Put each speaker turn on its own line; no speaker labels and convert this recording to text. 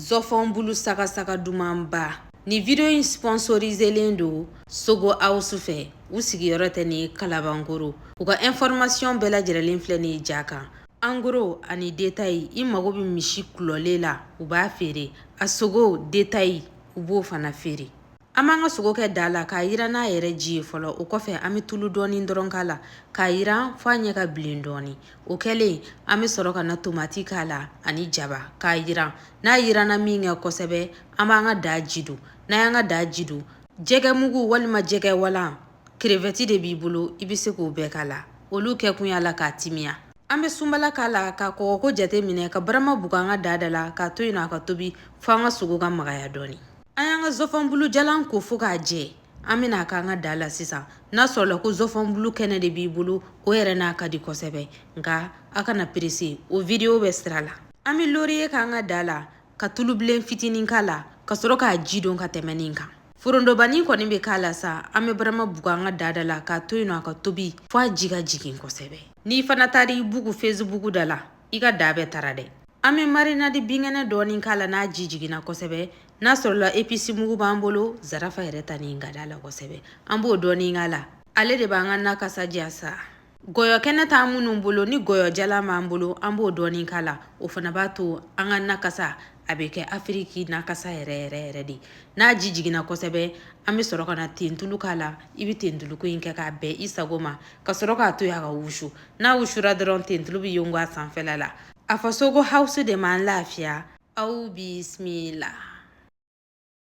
Zɔfɔn bulu saga saga dumanba. Nin video in sponsoriselen don Sogo House fɛ. U sigiyɔrɔ tɛ ni Kalabankoro. U ka information bɛɛ lajɛrɛlen filɛ nin ye ja kan. En gros ani détail i mago bɛ misi kulɔlen la, u b'a feere. A sogo détail u b'o fana feere. an b'an ka sogo kɛ daa la k'a yira n'a yɛrɛ ji ye fɔlɔ o kɔfɛ an bɛ tulu dɔɔni dɔrɔn k'a la k'a yira f'a ɲɛ ka bilen dɔɔni o kɛlen an bɛ sɔrɔ ka na tomati k'a la ani jaba k'a yira n'a yiranna min kɛ kosɛbɛ an b'an ka daa ji don n'an y'an ka daa ji don jɛgɛ mugu walima jɛgɛ walan krevɛti de b'i bolo i bɛ se k'o bɛɛ k'a la olu kɛ kun y'a la k'a timiya an bɛ sunbala k'a la ka kɔgɔko jate minɛ ka barama bugu an ka daa da la k'a to yen nɔ a ka tobi fo an ka sogo ka magaya dɔɔni an y'an ka zɔfɔnbulujalan ko fo k'a jɛ an bɛn'a k'an ka daa la sisan n'a sɔrɔla ko zɔfɔnbulu kɛnɛ de b'i bolo o yɛrɛ na ka di kosɛbɛ nka a kana perese o vidiyo bɛ sira la an bɛ loriye k'an ka daa la ka tulubilen fitinin k'a la ka sɔrɔ k'a ji don ka tɛmɛ nin kan forondobani kɔni bɛ k'a la sa an bɛ barama bugu an ka daa da la k'a to yen nɔ a ka tobi fo a ji ka jigin kosɛbɛ n'i fana taara i bugu fesibuku da la i ka daa bɛ tara dɛ an bɛ marinadi binkɛnɛ dɔɔni k'a la n'a ji jiginna kosɛbɛ n'a sɔrɔla episi mugu b'an bolo zarafa yɛrɛ ta nin ka da la kosɛbɛ an b'o dɔɔni k'a la ale de b'an ka na kasa diya sa gɔyɔ kɛnɛ t'an minnu bolo ni gɔyɔ jalan b'an bolo an b'o dɔɔni k'a la o fana b'a to an ka na kasa a bɛ kɛ afiriki na kasa yɛrɛ yɛrɛ yɛrɛ de n'a ji jiginna kosɛbɛ an bɛ sɔrɔ ka na tentulu k'a la i bɛ tentuluko in kɛ k'a bɛn i sago ma ka sɔrɔ k'a to yen a ka wusu n'a wusura dɔrɔn tentulu bɛ yongo a sanfɛla la a fɔ sogo hawusu de m'an lafiya aw bisimila